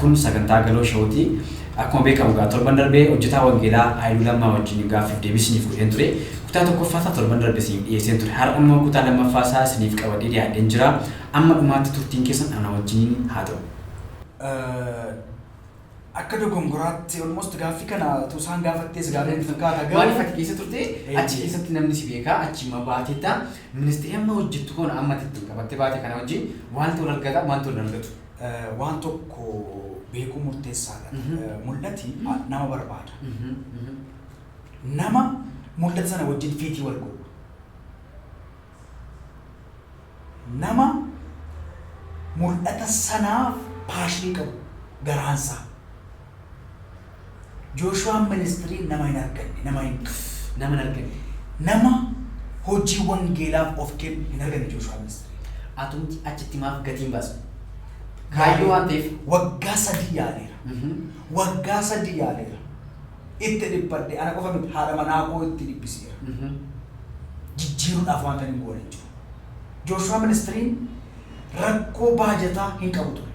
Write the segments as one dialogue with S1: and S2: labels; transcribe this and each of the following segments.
S1: Kun sagantaa Galoo Show ti. Akkuma beekamu egaa torban darbe hojjetaa wangeelaa Haayiluu Lammaa wajjin gaaffiif deebii isiniif godheen ture. Kutaa tokkoffaa isaa torban darbe isiniif dhiyeesseen ture. Har'a immoo kutaa lammaffaa isaa isiniif qabadhee dhiyaadheen jira. Amma dhumaatti turtiin keessan ana wajjiniin haa ta'u.
S2: Akka dogongoraatti almost gaaffii kana utuu isaan gaafattees gaarii natti fakkaata garuu. Maaliif ati keessa turte
S1: Eeyyee. achi keessatti namni si beekaa achi immoo baateetta ministeerri amma hojjettu kun amma itti qabattee baate kana wajjin waaltu wal argata waaltu wal argatu. waan tokko
S2: beekuu murteessaadha. Mul'ati nama barbaada. Nama mul'ata sana wajjin fiitii wal godhu. Nama mul'ata sanaaf paashinii qabu garaansaa. Jooshuwaan ministirii nama hin arganne, nama hin. nama hin arganne. nama hojii wangeelaaf of kennu hin arganne Jooshuwaa ministirii. Atumti achitti
S1: maaf gatii hin baasne? Kaayyoo waan ta'eef. Waggaa sadii
S2: yaaleera. Waggaa sadii yaaleera. Itti dhiphadhe. Ana qofa miti haadha manaa koo itti dhiphiseera. Jijjiiruudhaaf waantan hin goone hin jiru. Jooshuwaa Ministiriin rakkoo baajataa hin qabu ture.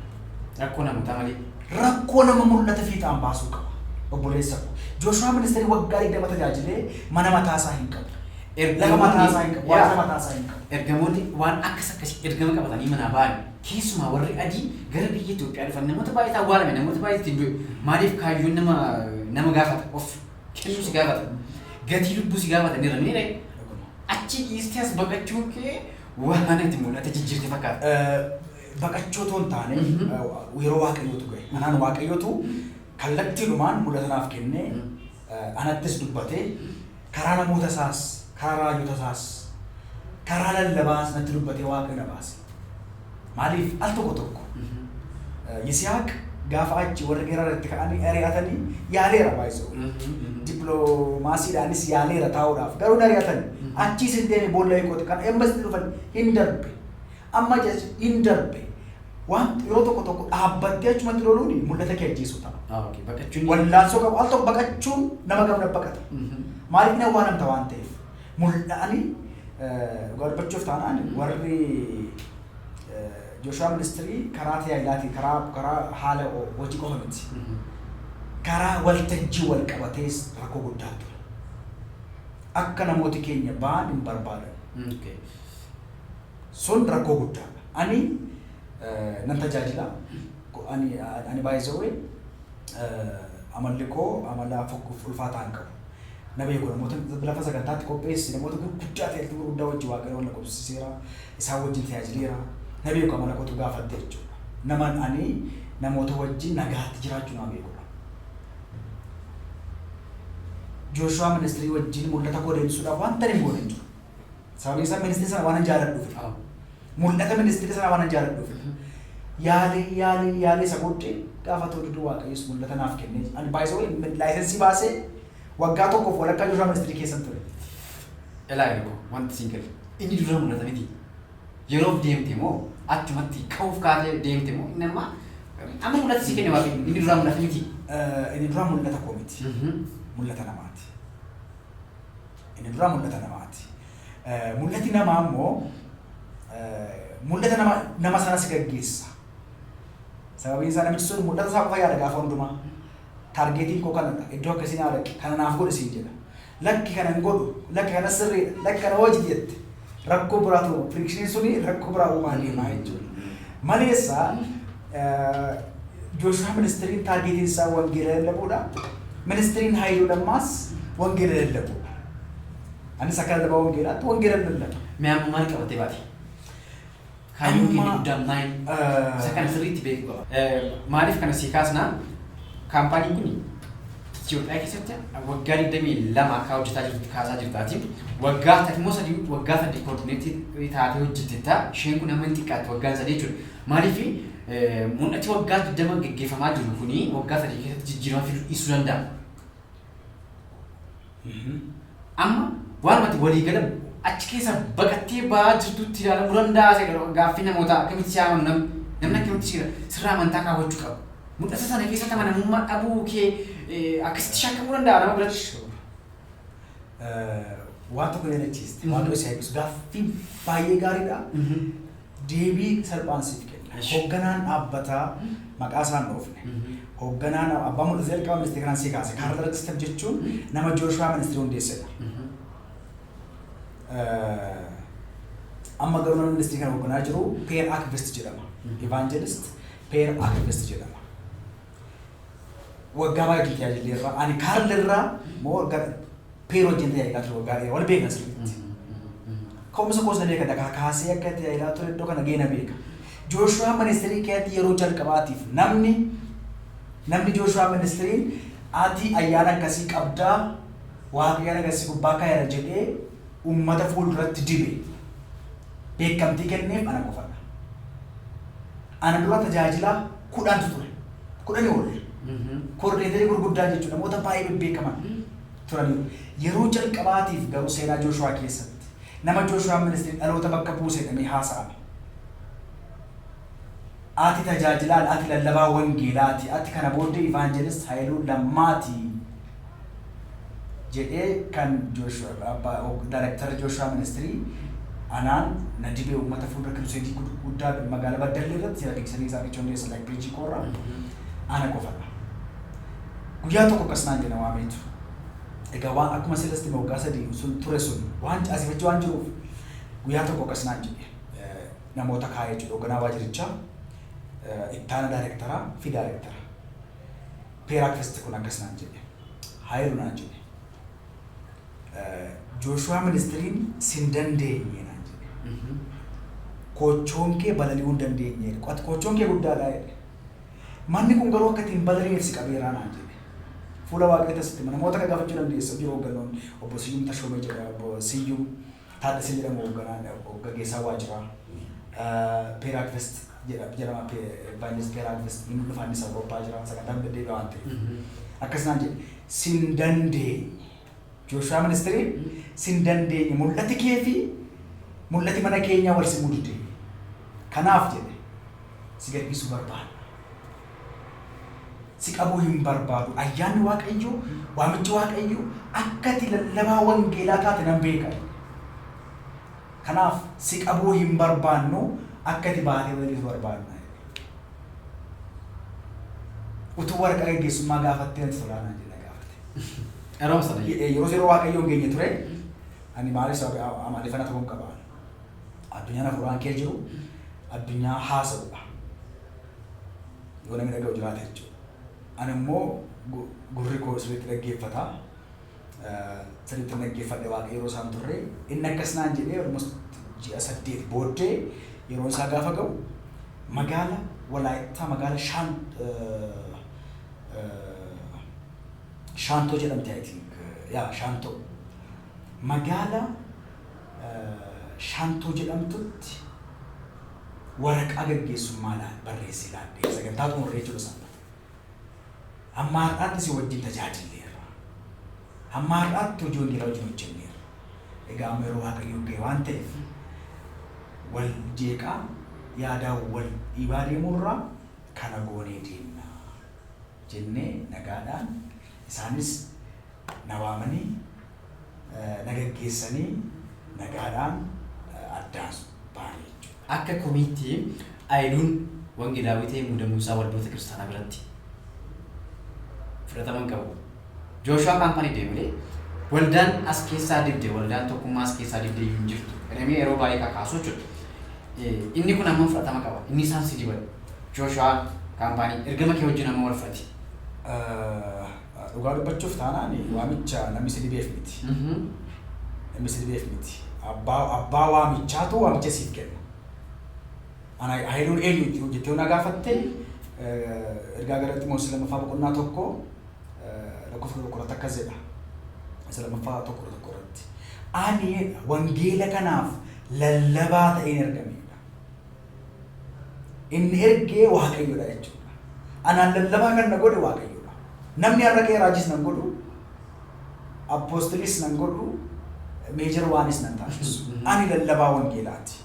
S2: Rakkoo namootaa
S1: malee. Rakkoo nama
S2: mul'ata fiixaan baasuu qaba. Obboleessa koo. Jooshuwaa Ministirii waggaa 20 tajaajilee mana mataa isaa hin qabu. Lafa mataa isaa hin qabu. Waajjira mataa isaa hin qabu. Ergamoonni waan
S1: akkas akkasii ergama qabatanii manaa ba'an. Keessumaa warri adii gara biyya Itoophiyaa dhufan namoota baay'eetu awwaalame, namoota baay'eetu ittiin du'e. Maaliif kaayyoon nama nama gaafata of. kennuu si gaafata. Gatii lubbuu si gaafata ni ramee ree. Achi dhiistee as baqachuu kee waan mana itti mul'ata jijjiirte fakkaata. Baqachuu
S2: otoo hin taane yeroo waaqayyootu ga'e. Anaan waaqayyootu kallattiidhumaan mul'ata naaf kennee anattis dubbatee karaa namoota isaas karaa raajota isaas karaa lallabaa natti dubbatee waaqayyo na baase. Maaliif al tokko tokko Yisihaaq gaafa achi warri Gerar itti ka'anii ari'atanii yaaleera baay'isoo. Dippiloomaasiidhaanis yaaleera taa'uudhaaf garuu hin ari'atan. Achiis hin deeme boolla hiikooti kan embasitti dhufan hin darbe. Amma jechi hin darbe waan yeroo tokko tokko dhaabbattee achumatti loluun mul'ata kee ajjeesuu ta'a. Ah, okay. Baqachuun. Wallaansoo qabu al tokko baqachuun nama gamna baqata. Maaliif hin awwaalamta waan ta'eef. mul'a'ani dhugaa dubbachuuf taanaan warri Jooshuwaa ministirii karaa tajaajilaatiin karaa karaa haala hojii qofa miti. Karaa waltajjii wal qabatees rakkoo guddaa ture. Akka namooti keenya ba'an hin barbaadan. Okay. Sun rakkoo guddaadha. Ani eh, nan tajaajila. Ko- Ani ani baay'ee amalli koo amala fokkuuf ulfaataa hin qabu. Na beeku namoota lafa sagantaatti qopheesse namoota gurguddaa ta'e iltuu gurguddaa wajjin waaqayyo wal na qubsiiseera isaan wajjin tajaajileera na beeku amala kootu gaafatte jechuudha. Naman ani namoota wajjin nagaatti jiraachuu nama beekudha. Jooshuwaa ministirii wajjin mul'ata koo deebisuudhaaf wanta hin goone hin jiru. Sababiin isaa ministirii sana waan hin jaaladhuuf. Mul'ata ministeera sanaa waanan jaaladhuuf. Yaalee yaalee yaalee isa booddee gaafa ta'u duduu waaqayyos mul'ata naaf kennee ani baay'isoo laayisensii baasee waggaa tokkoof walakkaa jirraa ministeerii keessan ture. Elaa
S1: yeroo wanti siin galu inni dura mul'ata miti. Yeroof deemte moo achumatti ka'uuf kaatee deemte moo inni amma amma mul'ata sii kenne waaqayyo inni dura mul'ata miti. Inni dura
S2: mul'ata koo miti. Mul'ata namaati. Inni duraa mul'ata namaati. Mul'ati namaa immoo mul'ata nama nama sana si gaggeessa. Sababiin isaa namichi sun mul'ata isaa qofa yaada gaafa hundumaa. Taargeetiin koo kanadha. Iddoo akkasii naa dhaqi. Kana naaf godhi siin jedha. Lakki kana hin godhu. Lakki kana sirriidha. Lakki kana hojii jette. Rakkoo biraa ta'u frictioniin suni rakkoo biraa uumaa deemaa jechuudha. Maleessa Jooshuwaa ministiriin taargeetiin isaa wangeela lallabuudha. Ministiriin Haayiluu Lammaas wangeela lallabuudha. Anis akka lallabaa wangeelaatti wangeela lallaba. Mee amma maal qabatee
S1: baate? Kaayyoon keenya guddaan maal? Isa kana sirriitti beekuu qabna. Maaliif kana sii kaasna? Kaampaaniin kun Itiyoophiyaa keessatti waggaa 22 akka hojjetaa jirtutti kaasaa jirtaati. Waggaa takmoo sadii waggaa sadii koordineetii taatee hojjettetta. Isheen kun amma hin xiqqaatti waggaan sadii jechuudha. Maaliif mul'ati waggaa 20 gaggeeffamaa jiru kuni waggaa sadii keessatti jijjiirama fiduu dhiisuu danda'a. Amma waanuma ati walii gala achi keessaa baqattee ba'aa jirtutti ilaalamuu danda'aa isa jedhu gaaffii namootaa akkamitti si amanu namni namni akkamitti si sirraa amantaa kaawwachuu qaba. Mul'ata sana keessatti amanamummaa dhabuu kee eh, akkasitti shakkamuu danda'a nama biratti. Sure. Eh,
S2: Waan tokko yaadachiiste. Mhm. Waaqayyo si eebbisu. Gaaffiin baay'ee gaariidha. Mhm. Deebii salphaan siif kenna. Eshi. Hogganaan dhaabbataa maqaa isaa hin dhoofne. Hogganaan abbaa mul'ata jalqaba ministeera kanaan sii kaase. Kaarl Darkistan jechuun nama Jooshuwaa ministeera hundeessedha. Eh, Amma garuu namni ministeera kana hogganaa jiru Peer Akvist jedhama. Evangelist Peer Akvist jedhama. waggaa baay'ee tajaajillee irraa ani kaarle irraa moo waggaa peer wajjin tajaajilaa ture waggaa dheeraa wal beekna sirriitti. Ka'umsa koos na beeka dakaa kaasee akka tajaajilaa ture iddoo kana ga'ee na beeka. Jooshuwaa ministeerii keessatti yeroo jalqabaatiif namni namni Jooshuwaa ministeerii ati ayyaana akkasii qabdaa waaqayyaan akkasii gubbaa kaayera jedhee uummata fuulduratti dibe beekamtii kenneef ana qofadha. Ana dura tajaajilaa kudhantu ture. Kudhanii ol. Koordineetarii gurguddaa jechuudha. Namoota baay'ee bebbeekaman turaniiru. Yeroo jalqabaatiif garuu seenaa Jooshuwaa keessatti nama Jooshuwaan ministirii dhaloota bakka buuse jedhamee haasa'ame. Ati tajaajilaan, ati lallabaa wangeelaati, ati kana booddee Ivaanjelist Hayiluu Lammaati. jedhee kan Joshua abbaa og- director Joshua ministry anaan na dibee uummata fuuldura kiruseedii gud- guddaa magaalaa Baddallee irratti jira deebisanii isaa achicha hundeessan like page koo irraa ana qofadha. Guyyaa tokko akkas naan jedha waameetu. Egaa waan akkuma sila sitti hime waggaa sadii sun ture sun waan caasifacha waan jiruuf guyyaa tokko akkas naan jedhe eh, namoota kaa'ee jechuudha hoogganaa waajirichaa eh, ittaana daayirektaraa fi daayirektara. Peeraakist kun akkas naan jedhe. Haayilu naan jedhe. Jooshuwaa ministiriin sin dandeenye naan jedhe. Koochoon kee balali'uu hin dandeenye jedhe. Qo'at koochoon kee guddaadhaa jedhe. Manni kun garuu akka ittiin balali'eef si qabeeraa naan jedhe. Fuula waaqayyoo tasitti namoota akka gaafachuu dandeessa hojii hooggannoon obbo Siyyum Tashoomee jedha obbo Siyyum. Taaddasee jedhamu hoogganaa, gaggeessaa waajiraa Peeraakvest jedha, jedhama, Pe, Evaanjelis Peeraakvest, hin dhufa innis Awurooppaa jira, sagantaan deddeebi'a waan ta'eef. Akkas naan jedhe, sin dandeenye. Jooshuwaa ministiriin sin dandeenye, mul'ati kee fi mul'ati mana keenyaa wal simuu dide. Kanaaf jedhe, si gadhiisuu barbaanna. si qabuu hin barbaadu. Ayyaanni Waaqayyoo, waamichi Waaqayyoo akka ati lallabaa wangeelaa taate nan beeka. Kanaaf si qabuu hin barbaannu, akka ati baatee lalitu barbaanna. Utuu waraqaa geggeessummaa gaafattee natti tolaa naan jedha gaafate. Yeroo sana Ye- eh, Yeroo yeroo Waaqayyoon geenye ture, ani maaliif sababa amaaleeffannaa ta'uu hin qaba. Addunyaan hafuuraan kee jiru, addunyaa haasa'udha. yoo namni dhaga'u jiraate jechuudha. Ana immoo gurri koo sirriitti dhaggeeffata. Sirriitti dhaggeeffadhe waaqa yeroo isaan turre. Inni akkas naan jedhee almost ji'a saddeet booddee yeroo isaa gaafa ga'u magaala Walaayittaa magaala Shaan Shaantoo jedhamti I think yaa Shaantoo magaala Shaantoo jedhamtutti waraqaa gaggeessummaa laal barreessii laadhee sagantaa xumurree jechuudha sanbata. Hamma har'aatti si wajjin tajaajilleerra. Hamma har'aatti hojii wangeelaa wajjin hojjenneerra. Egaa amma yeroo Waaqayyoo ga'e waan ta'eef wal jeeqaa yaadaa wal dhiibaa deemuurraa kana goonee deemna jennee nagaadhaan isaanis na waamanii na gaggeessanii nagaadhaan addaan baane jechuudha. Akka komiitti
S1: Ayiluun Wangeelaawwii ta'ee muudamuun isaa waldoota kiristaanaa biratti fudhatama hin qabu. Jooshuwaa Kaampaanii du'e malee waldaan as keessaa dibde, waldaan tokkummaa as keessaa dibde iyyuu hin jirtu jedhamee yeroo baay'ee kakaasu jechuudha. Inni kun hammam fudhatama qaba? Inni isaan si diban Jooshuwaa Kaampaanii ergama kee wajjin hammam wal fudhati? Dhugaa
S2: dubbachuuf taanaan waamicha namni si dideef miti. Namni si dideef miti. Abbaa abbaa waamichaatu waamicha siif kenna. Ana Haayiluun eenyuuti yoo jettee yoo na gaafatte eh, ergaa gara Ximootis lammaffaa boqonnaa tokko eh, lakkoofsa kudha tokko irratti akkas jedha. Isa lammaffaa tokko kudha tokko irratti. Ani jedha wangeela kanaaf lallabaa ta'een ergameedha. Inni ergee Waaqayyodha jechuudha. Anaan lallabaa kan na godhe Waaqayyodha. Namni har'a ka'ee raajiis nan godhu, appoostiliis nan godhu, meejar waanis nan taasisu. Ani lallabaa wangeelaati.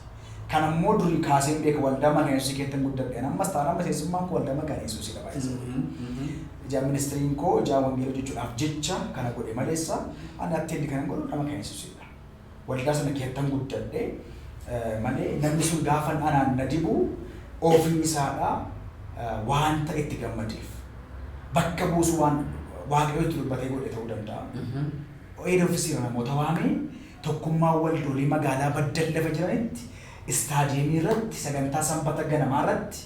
S2: Kan ammoo durii kaasee hin beeku waldaa mana Yesuusii keessatti guddadhe. Ani ammas taanaan miseensummaan koo waldaa maqaan Yesuusidha baay'ee. Ijaan ministiriin koo ijaan wangeela hojjechuudhaaf jecha kana godhe maleessa ani atteendi kan hin godhu nama kan Yesuusidha. Waldaa sana keettan guddadhe malee namni sun gaafan anaan na dibu ofii isaadha waanta itti gammadeef bakka buusu waan waaqayyo itti dubbatee godhe ta'uu danda'a. Eeda ofisiira namoota waamee tokkummaa waldoolii magaalaa baddan lafa jiranitti istaadiyeemii irratti sagantaa sanbata ganamaa irratti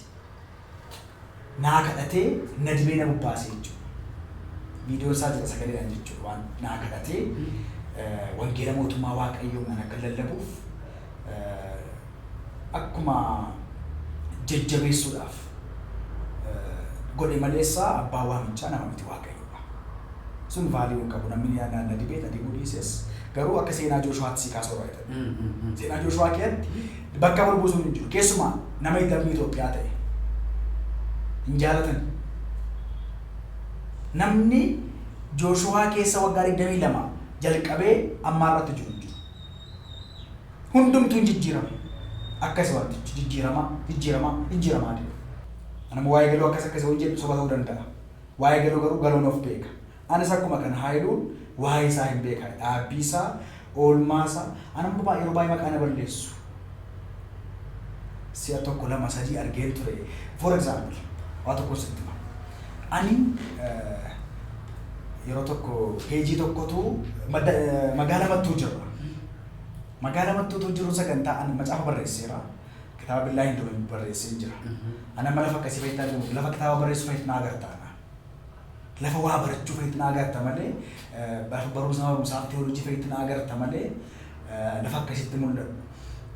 S2: naa kadhatee na dibee na bobbaase jechuudha. Viidiyoon isaa jira sagaleedhaan jechuudha waan naa kadhatee wangeela mootummaa waaqayyoo nan akka lallabuuf akkuma jajjabeessuudhaaf godhe maleessa abbaa waamichaa nama miti waaqayyoodha. Sun vaaliyuu hin qabu namni na dibee na dibuu dhiises garuu akka seenaa Jooshuwaatti sii kaasuu irraa jedhan. Seenaa Jooshuwaa keessatti Bakka wal buusuun hin jiru. Keessumaa nama hidhamni Itoophiyaa ta'e hin jaalatani. Namni Jooshuwaa keessa waggaa 22 jalqabee ammaa irratti jiru hin jiru. Hundumtuu hin jijjiirame. Akkasi wantichi jijjiiramaa jijjiiramaa jijjiiramaa deema. Anammoo waa'ee galuu akkas akkasi yoo jedhu soba ta'uu danda'a. Waa'ee galuu garuu galoon of beeka. Anis akkuma kana Haayiluun waa'ee isaa hin beeka dhaabbii isaa oolmaa isaa an amma baay'ee yeroo baay'ee maqaa na balleessu si'a tokko lama sadii argeen ture for example waa tokko sitti hima ani yeroo tokko peejii tokkotu magaalaa mattuu jirra magaalaa mattuutu jiru sagantaa ani macaafa barreesseera kitaaba billaa hin dume barreesseen jira ana amma lafa akkasii fayyadamuu lafa kitaaba barreessu fayyadamuu agartaana Lafa waa barachuu fa'itti na agarta malee, lafa barumsa barumsaa fi teoloojii fa'itti na agarta malee lafa akkasitti mul'adhu.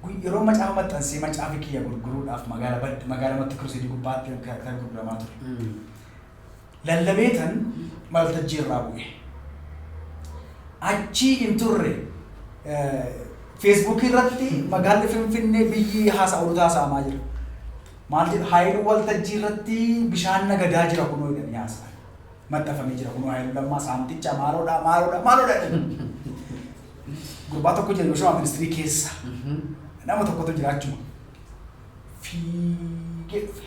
S2: Gu- Yeroo macaafa maxxansee macaafi kiyya gurguruudhaaf magaala bad- magaala matti kiruseedii gubbaatti kan kan gurguramaa ture. Mm. Lallabeetan waltajjii irraa bu'e. Achii hin turre feesbuukii irratti magaalli Finfinnee biyyi haasa'u haasa'amaa jira. Maal jedhu Haayiluu waltajjii irratti bishaan na gadaa jira kunoo jedhanii haasa'an. Maxxanfamee jira kunoo Haayiluu Lammaa saamticha maaloodhaa maaloodhaa maaloodhaa jedhanii. Gurbaa tokko jira Yoshuwaa ministirii keessa nama tokkotu jira achuma. Fiigee dhufe.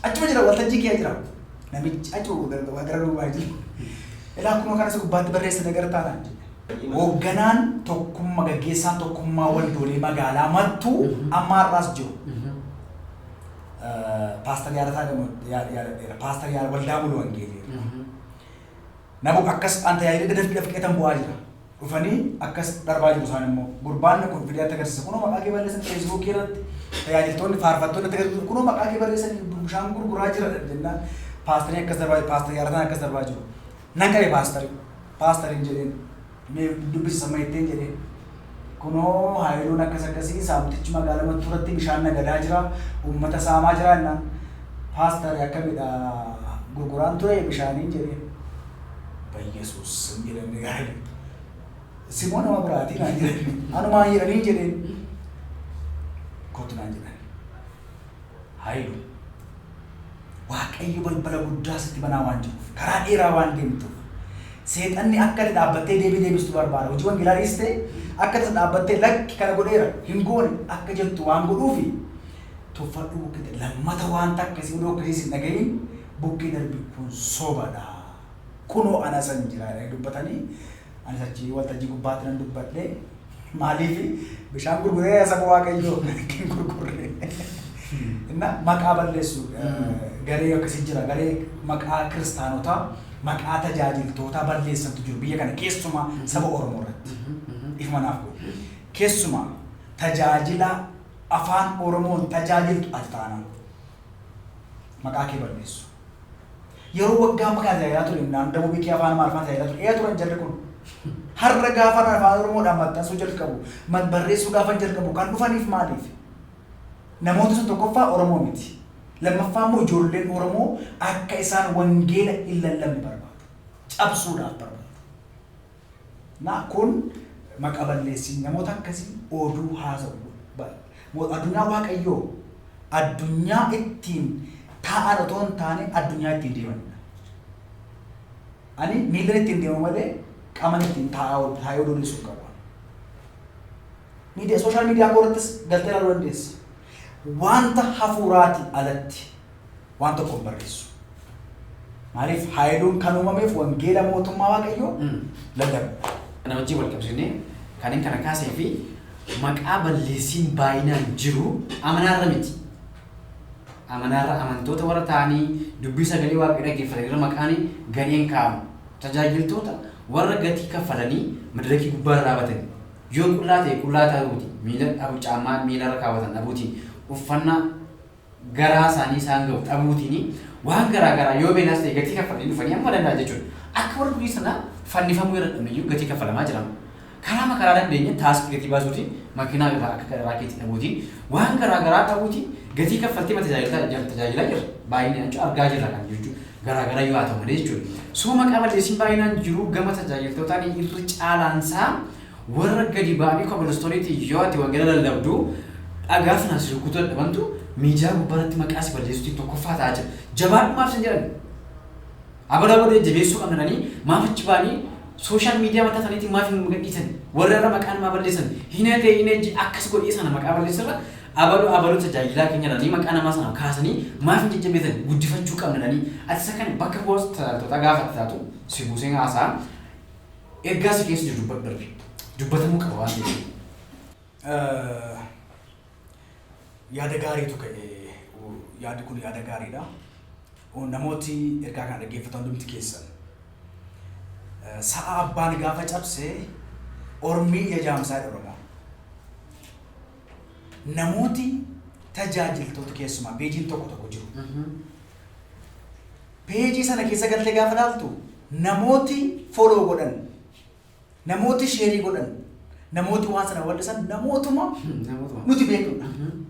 S2: Achuma jira waltajjii kee jira. Namichi achuma gara duubaa jira. Ilaa kunoo kanas gubbaatti barreessine gara taanaan jedhe. Hoogganaan tokkumma gaggeessaan tokkummaa waldoolee magaalaa mattuu amma har'aas jiru. Paastar Yaadataa Yaadadheera. Paastar Yaada Waldaa Mulu Wangeeleera. Nabu akkas an tajaajila dadafqee fqeetan bu'aa jira. Dhufanii akkas darbaa jiru isaan immoo. Gurbaan kun fidee akka agarsiisa. Kunoo maqaa kee balleessan feesbuukii irratti tajaajiltoonni faarfattoonni akka agarsiisu. Kunoo maqaa kee balleessan bishaan gurguraa jira jennaan. Paastarii akkas darbaa jiru. Paastarii Yaadataan akkas darbaa jiru. Nan qabe paastarii. Paastariin jedheen. Mee dubbisi samma jetteen jedheen. Kunoo Haayiluun akkas akkasii saamtichi magaala Mattuu irratti bishaan nagadaa jira, uummata saamaa jira jennaan. Paastari akkamidha gurguraan ture bishaaniin jedheen. Bayyesuus sim jedhamne gaari. Simoo nama biraatii naan jedhan. Anumaan jedhanii jedheen. Kottu naan jedhan. Haayilu, Waaqayyo balbala guddaa sitti banaa waan jiruuf, karaa dheeraa waan deemtuuf, Seexanni akka ati dhaabbattee deebii deebistu barbaada. Hojii wangeelaa dhiistee akka tasa dhaabbattee lakki kana godheera, hin goone akka jettu waan godhuufi tuffadhuu bukkee darbi. Lammata waan takka si odoo akkasiis hin dhaga'iin bukkee darbi kun sobadha. Kunoo ana isan jira jedhanii dubbatanii Anis achi waltajjii gubbaatti nan dubbadhe. Maaliif bishaan gurguree saba waaqayyoo hin gurgurre. Inna maqaa balleessu garee akkasii jira. Garee maqaa kiristaanotaa, maqaa tajaajiltootaa balleessantu jiru biyya kana keessumaa saba Oromoo irratti. Ifuma naaf godhu. Keessumaa tajaajila afaan Oromoon tajaajiltu ati taanaan maqaa kee balleessu. Yeroo waggaa amma kana tajaajilaa ture naannoo Dabuu Bikii Afaan Amaariffaan tajaajilaa ture. Eeyaa turan jarri kun. Har'a gaafa Afaan Oromoodhaan maxxansuu jalqabu, mat- barreessuu gaafa jalqabu kan dhufaniif maaliif? Namoota sun tokkoffaa Oromoo miti. Lammaffaa immoo ijoolleen Oromoo akka isaan wangeela hin lallabne barbaadu. Cabsuudhaaf barbaadu. Naa kun maqa balleessin namoota akkasii ooduu haasa'u bar mo adunyaa waaqayyoo addunyaa ittiin taa'an otoo hin taane addunyaa ittiin deemanidha ani miillan ittiin deemu malee qaman ittiin taa'aa ol taa'ee oduu deessu hin qabu miidiya sooshaal miidiyaa koo irrattis galtee ilaaluu dandeessa wanta hafuuraatii alatti waan tokko hin barreessu. Maaliif haayiluun kan uumameef wangeela mootummaa waaqayyoo Mm. lallabuudha. Kana wajjin wal
S1: qabsiisnee kan inni kana kaasee fi maqaa balleessiin baay'inaan jiru amanaarra miti. Amanaarra amantoota warra ta'anii dubbii sagalee waaqayyoo dhaggeeffatan irra maqaan gadheen kaa'amu. Tajaajiltoota warra gatii kaffalanii madirakii gubbaa irra dhaabatani. Yoo qullaa ta'e qullaa ta'uuti. Miila dhabu caammaa miila irra kaawwatan dhabuuti. Uffannaa garaa isaanii isaan ga'u dhabuutiin waan garaa garaa yoo beelaas ta'e gatii kaffalanii dhufanii amma danda'an jechuudha. Akka warra durii sana fannifamuu irra dhabneyyuu gatii kaffalamaa jira. Karaa makaraa dandeenya taaskii gatii baasuutiin makiinaa irraa akka garaa keetti dhabuutiin waan garaa garaa dhabuutiin gatii kaffaltii ma tajaajilaa tajaajilaa jira. Baay'inaan jechuun argaa jirra kan jechuun garaa garaa yoo haa ta'u malee jechuudha. Soo maqaa balleessiin baay'inaan jiru gama tajaajiltootaan irra caalaansaa Warra gadi ba'anii kobilistoniitiin yoo ati wangeela lallabdu dhagaa sanaan si rukkutuu dadhabantu miidiyaa gubbaarratti maqaa si balleessuutiin tokkoffaa ta'aa jira. Jabaadhu maaf sin jedhan? Abara booda jajjabeessuu qabna jedhanii maaf achi ba'anii sooshaal miidiyaa mataa isaaniitiin maaf hin gadhiisan? Warra irra maqaa namaa balleessan hin hafee hin ejji akkas godhee sana maqaa balleessirra abaluu abaluu tajaajilaa keenya jedhanii maqaa namaa sana kaasanii maaf hin jajjabeessan? Guddifachuu qabna jedhanii ati isa kana bakka bu'aa tajaajiltootaa gaafa itti taatu si buusee haasaa Ergaa si keessa jiru dubbadhu darbi. Dubbatamuu qaba waan ta'eef. Eh,
S2: Yaada gaariitu ka'e. Oh, Yaadi kun yaada gaariidha. Oh, Namooti ergaa kana dhaggeeffatan hundumti keessan. Eh, Sa'a abbaan gaafa cabse ormiin jajaamsaa jedha Oromoon. Namooti tajaajiltoota keessumaa peejiin tokko tokko jiru. Page sana keessa galtee gaafa ilaaltu namooti follow godhan, namooti share godhan, namooti waan sana bal'isan namootuma Namootuma. nuti beeknudha. Mhm.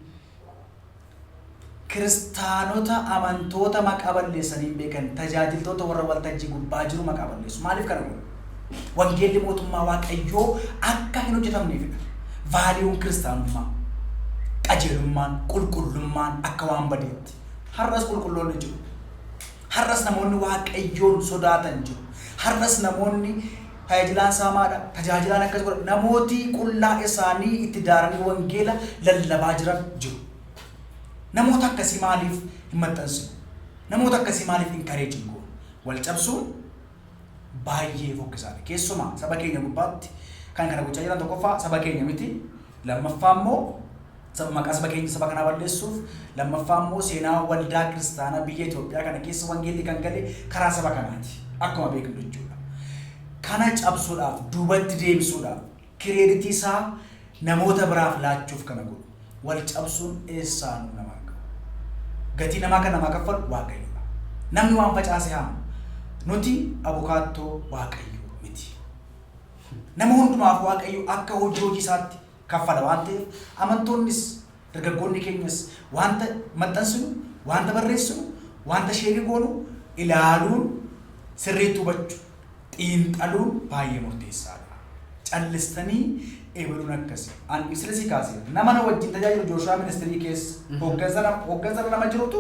S2: Kiristaanota amantoota maqaa balleessanii hin beekan tajaajiltoota warra waltajjii gubbaa jiru maqaa balleessu. Maaliif kana godhu? Wangeelli mootummaa Waaqayyoo akka hin hojjetamneefidha. Vaaliyuun kiristaanummaa, qajeelummaan, qulqullummaan akka waan badeetti. Har'as qulqulloonni jiru. Har'as namoonni Waaqayyoon sodaatan jiru. Har'as namoonni tajaajilaan isaa maadha, tajaajilaan akkas godha, namooti qullaa isaanii itti daaranii wangeela lallabaa jiran jiru. Namoota akkasii maaliif hin maxxansinu? Namoota akkasii maaliif hin kareejin goonu? Wal cabsuun baay'ee fokkisaadha. Keessumaa saba keenya gubbaatti kan kana gochaa jiran tokkoffaa saba keenya miti. Lammaffaa immoo Saba maqaa saba keenya saba kanaa balleessuuf, lammaffaa immoo seenaa waldaa kiristaanaa biyya Itoophiyaa kana keessa wangeelli kan gale karaa saba kanaati. Akkuma beeknu jechuudha. Kana cabsuudhaaf, duubatti deebisuudhaaf, kireeditii isaa namoota biraaf laachuuf kana godhu. Wal cabsuun eessaa nu nama arga? Gatii namaa kan namaa kaffalu Waaqayyoodha. Namni waan facaase haama. Nuti abukaattoo Waaqayyoo miti. Nama hundumaaf Waaqayyo akka hojii hojii isaatti kaffala waan ta'eef amantoonnis dargaggoonni keenyas waanta maxxansinu, waanta barreessinu, waanta sheerii goonu ilaaluun sirriitti hubachu, xiinxaluun baay'ee murteessaadha. Callistanii ebaluun akkasi. An misila sii kaaseera. Nama na wajjin tajaajilu Jooshuwaa ministirii keessa hooggansa nama hooggansa irra nama jirutu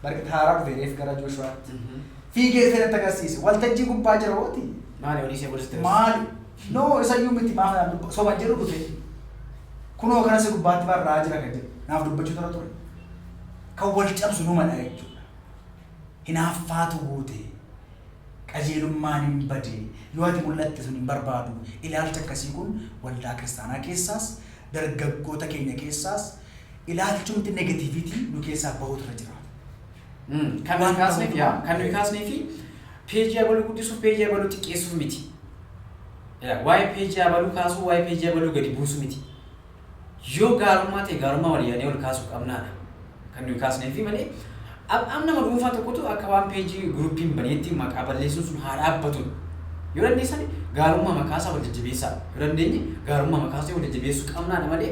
S2: barkita haaraa dhufe reef gara Jooshuwaatti. Fiigee dhufee natti agarsiise. Waltajjii gubbaa jira hooti. Maali olii see godhiste?
S1: Maali? No
S2: isa iyyuu miti maa kanaan dubba soba jedhu dhufe kunoo kana si gubbaatti barraa jira kan jedhu naaf dubbachuu irra ture kan wal cabsu numadha jechuudha hinaaffaatu guute qajeelummaan hin bade yoo ati mul'atte sun hin barbaadu ilaalcha akkasii kun waldaa kiristaanaa keessaas dargaggoota keenya keessaas ilaalchumti negativiitii nu keessaa bahuutu irra jiraata. Kan
S1: nuyi kaasneef yaa kan nuyi kaasnee fi Peejii abaluu guddisuu, peejii abaluu xiqqeessuu miti. Yaa, Waa'ee peejii abaluu kaasuu, waa'ee peejii abaluu gadi buusuu miti. Yoo gaarummaa ta'e gaarummaa walii yaadnee ol kaasuu qabnaadha. Kan nuyi kaasneefi malee am- am nama dhuunfaa tokkotu akka waan peejii guruppiin baneetti maqaa balleessuun sun haa dhaabbatu. Yoo dandeessan gaarummaa makaasaa wal jajjabeessaa. Yoo dandeenye gaarummaa makaasuu wal jajjabeessuu qabnaadha malee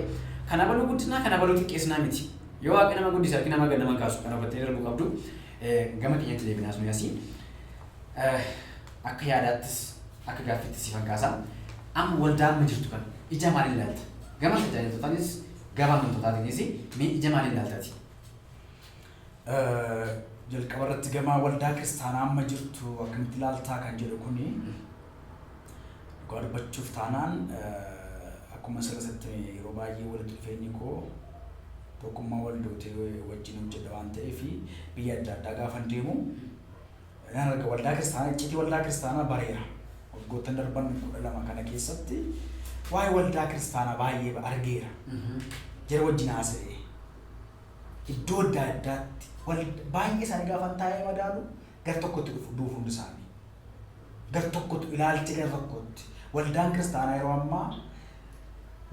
S1: kan abaluu guddisnaa kan abaluu xiqqeessinaa miti. Yoo Waaqni nama guddise harki namaa gad nama hin kaasu. Kana hubattanii darbuu qabdu. Gama keenyatti deebinaa suni asii akka yaadaattis akka gaaffiittis si fakkaasa. Amma waldaa amma jirtu kana ija maaliin ilaalta? Gama tajaajiltootaanis gama amantootaanis mee ija maaliin ilaaltati?
S2: Jalqaba irratti gama waldaa kiristaanaa amma jirtu akkamitti ilaaltaa kan jedhu kuni Dhugaa dubbachuuf taanaan akkuma asirratti yeroo baay'ee walitti dhufeenyi koo tokkummaa waldootee wajjin hojjedha waan ta'eef biyya adda addaa gaafan deemu nan arga waldaa kiristaanaa iccitii waldaa kiristaanaa bareera. Waggoottan darban kudha lama kana keessatti waa'ee waldaa kiristaanaa baay'ee argeera. Jara wajjin haasa'ee iddoo adda addaatti baay'ee isaanii gaafan taa'ee madaalu gar tokkotti dhufu duuf hundi isaanii. Gar tokkotu ilaalcha gar tokkotti. Waldaan kiristaanaa yeroo ammaa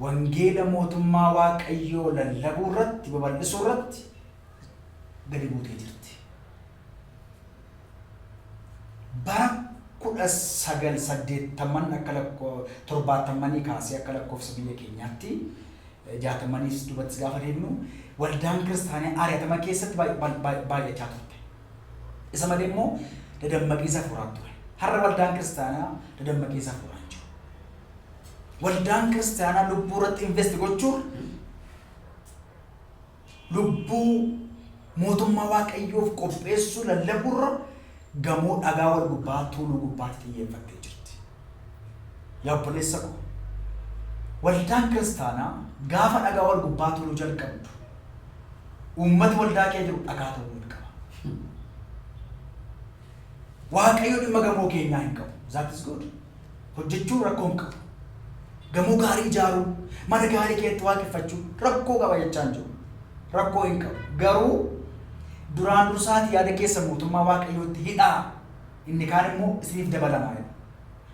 S2: wangeela mootummaa waaqayyoo lallabuu irratti babal'isuu irratti gadi buutee jirti. Bara kudha sagal saddeettaman akka lakkoo torbaattammanii kaasee akka lakkoofsa biyya keenyaatti eh, jaatammaniis dubattis gaafa deemnu waldaan kiristaanaa ari'atama keessatti baay- baay- baay- baay'achaa turte. Isa malee immoo dadammaqiisa hafuuraan ture. Har'a waldaan kiristaanaa dadammaqiisa hafuuraan jiru. Waldaan kiristaanaa lubbuu irratti invest gochuun lubbuu mootummaa waaqayyoof qopheessuu lallabuurra gamoo dhagaa wal gubbaa tuuluu gubbaatti xiyyeeffattee jirti. Yaa obboleessa koo waldaan kiristaanaa gaafa dhagaa wal gubbaa tuuluu jalqabdu uummati waldaa kee jiru dhagaa ta'uu hin qaba. Waaqayyo dhimma gamoo keenyaa hin qabu. That is good. Hojjechuun rakkoo hin qabu. Gamoo gaarii ijaaruu, mana gaarii keessatti waaqeffachuu rakkoo qaba jechaa hin jiru. Rakkoo hin qabu. Garuu duraan dursaati yaada keessa mootummaa waaqayyootti hidhaa. Inni kaan immoo isiniif dabalamaa jedha.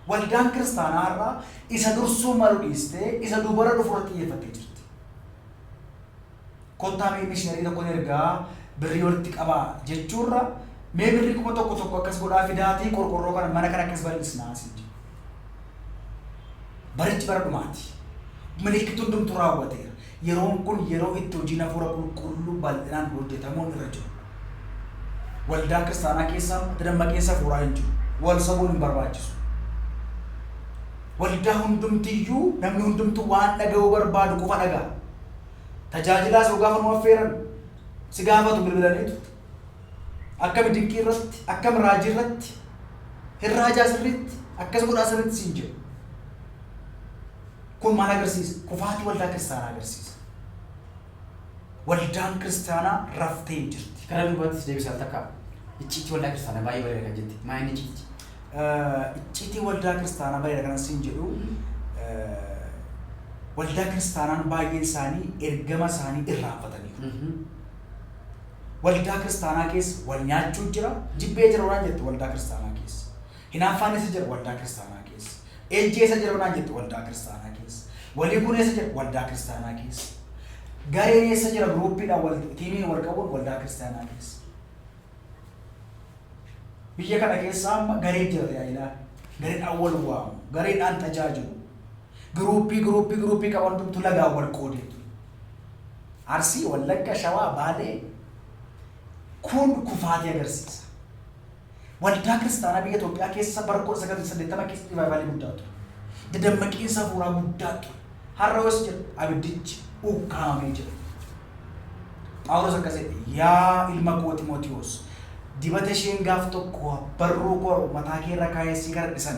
S2: Waldaan kiristaanaa irraa isa dursuu malu dhiistee isa duubara dhufu irratti xiyyeeffattee jirti. Kottaa mee mishinari tokkon ergaa birrii walitti qabaa jechuurra mee birrii kuma tokko tokko akkas godhaa fidaatii qorqorroo kana mana kana akkas bal'isnaa siin jedhe. Barichi bara dhumaati. Milikkitni hundumtuu raawwateera. Yeroon kun yeroo itti hojiin hafuura qulqulluu bal'inaan hojjetamuun irra jirudha. Waldaan kiristaanaa keessa itti dammaqinsa hafuuraa hin jiru. Wal sobuun hin barbaachisu. Waldaa hundumtiyyuu namni hundumtuu waan dhaga'uu barbaadu qofa dhaga'a. Tajaajilaas yoo gaafa nu affeeran si gaafatu bilbilaniitu. Akkami dinqii irratti, akkam raajii irratti, hin raajaa sirriitti, akkas godhaa sirriitti siin jedhu. Kun maal agarsiisa? Kufaatii waldaa kiristaanaa agarsiisa. Waldaan kiristaanaa raftee hin jirti. Gara duubaattis deebisi al takka.
S1: Icciitii waldaa kiristaanaa baay'ee bareeda kan jette. Maa inni icciitii? Icciitii
S2: waldaa kiristaanaa bareeda kanan siin jedhu waldaa kiristaanaan baay'een isaanii ergama isaanii irraanfataniiru. Waldaa kiristaanaa keessa wal nyaachuu jira, jibbee jira waan jette waldaa kiristaanaa keessa. Hinaaffaan eessa jira? Waldaa kiristaanaa keessa. Ejji eessa jira yoo naan jette waldaa kiristaanaa keessa. Walii kun eessa jira? Waldaa kiristaanaa keessa. Gareen eessa jira? Guruuppiidhaan wal tiimiin wal qabuun waldaa kiristaanaa keessa. Biyya kana keessa amma gareen jira tajaajilaa. Gareedhaan wal waamu. Gareedhaan tajaajilu. Guruuppii guruuppii guruuppii qaban hundumtu lagaan wal qoodeetu. Arsii, Wallagga, Shawaa, Baalee kun kufaatii agarsiisa. Waldaa kiristaanaa biyya Itoophiyaa keessa bara 1980 keessa rivaayivaalii guddaa ture. Dadammaqiinsa hafuuraa guddaa ture. Har'a hoos jira abiddichi ukkaamamee jira. Phaawulos akkas jedhe, yaa ilma koo Ximootiyoos, dibata isheen gaaf tokko barruu koo mataa kee irra kaa'ee si gardhisan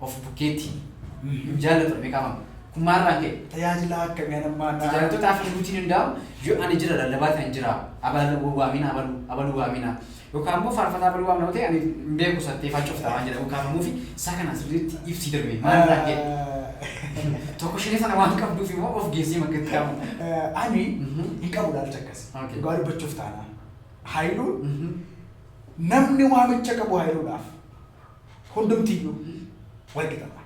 S1: of bukkeetti hin jaallatu dha beekamaa kun maalirraan ka'e? Tajaajilaa akkamii anan
S2: maadhaa? Tajaajiltootaaf himuutiin hin
S1: daa'u yoo ani jira lallabaa ta'en jira abaluu waamina abaluu abaluu waamina yookaan immoo faarfataa abaluu waamina yoo ta'e ani hin beeku sattee faacofta waan jedhamu kaafamuu fi isaa kanaan sirriitti ibsii darbe maalirraan ka'e? Tokko shinii sana waan qabduuf immoo of geessee makkatti kaamu. Ani
S2: hin qabu ilaalcha akkasii. Okay. Dhugaa dubbachuuf taanaan. Haayiluun namni waamicha qabu haayiluudhaaf. hundumtiyyuu wal qixadha.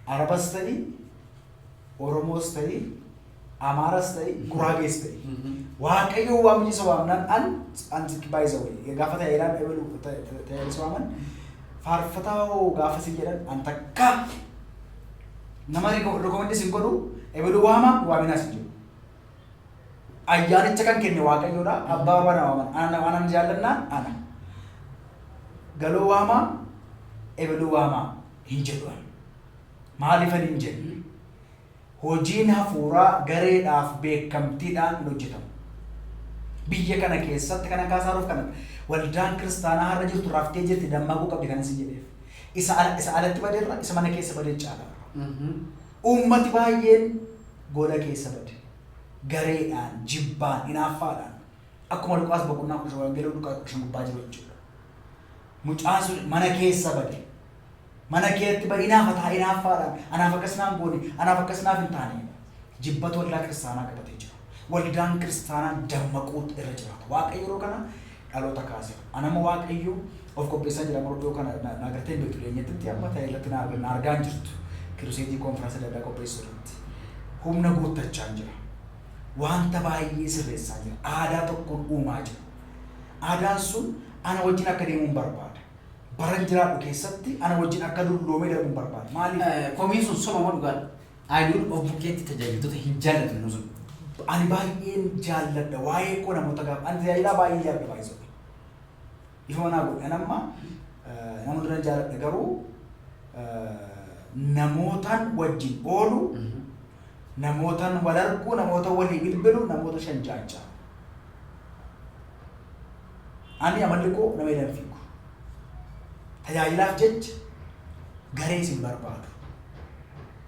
S2: Arabas ta'i, Oromoos ta'i, Amaaras ta'i, Guraagees ta'i. Waaqayyoo waan biyyisa waamnaan an anti baay'isa wayii. Gaafa ta'e iraan ebalu ta'e isa waaman faarfataa hoo gaafa sin jedhan an takka nama rekomendis hin godhu ebalu waama waaminaas hin jedhu. Ayyaanicha kan kenne Waaqayyoodha. Abbaa Abbaa na waaman. Ana na waanan jaallannaan ana. Galoo waamaa, ebeluu waamaa hin jedhu ani. Maaliif ani hin jenne? Hojiin hafuuraa gareedhaaf beekamtiidhaan hin hojjetamu. Biyya kana keessatti kana kaasaaruuf kana waldaan kiristaanaa har'a jirtu raftee jirti dammaquu qabdi kan isin jedheef. Isa ala isa alatti badeerra isa mana keessa badee caala. Uummati baay'een gola keessa bade. Gareedhaan, jibbaan, inaaffaadhaan. Akkuma Luqaas boqonnaa 15, Wangeela Luqaas 15 gubbaa jiru jechuudha. Mucaan sun mana keessa bade. Mana keetti bade inaafataa inaaffaadhaan. Anaaf akkas naan goone, anaaf akkas naaf hin taane. Jibbatu waldaa kiristaanaa qabatee jira. Waldaan kiristaanaa dammaquutu irra jiraata. Waaqayyo yeroo kana dhaloota kaasina. An amma Waaqayyo of qopheessaa jira amma iddoo kana na- na agartee hin beektu dhiyeenyatti amma ta'e irratti na arg- na argaa hin jirtu. Kiruseetii konfiraansa adda addaa qopheessu irratti. Humna guuttachaan jira. Wanta baay'ee sirreessaa jira. Aadaa tokkoon uumaa jira. Aadaan sun ana wajjin akka deemuun barbaada. Baran jiraadhu keessatti ana wajjin akka dulloomee darbuun barbaada. Maaliif? Eh, Komiin sun soba moo dhugaadha?
S1: Ayuun of bukkeetti tajaajiltoota hin jaallatu yeroo sun. Ani baay'een
S2: jaalladha waa'ee koo namoota gaafa ani tajaajilaa baay'ee jaalladha baay'ee sobe. Ifa manaa godhe an amma eh, nama duran jaalladha garuu eh, namootaan wajjin oolu namootaan wal arguu namoota walii bilbilu namoota shan jaajjaa. Ani amalli koo nama jedhan fiigu. Tajaajilaaf jecha garee isin barbaadu.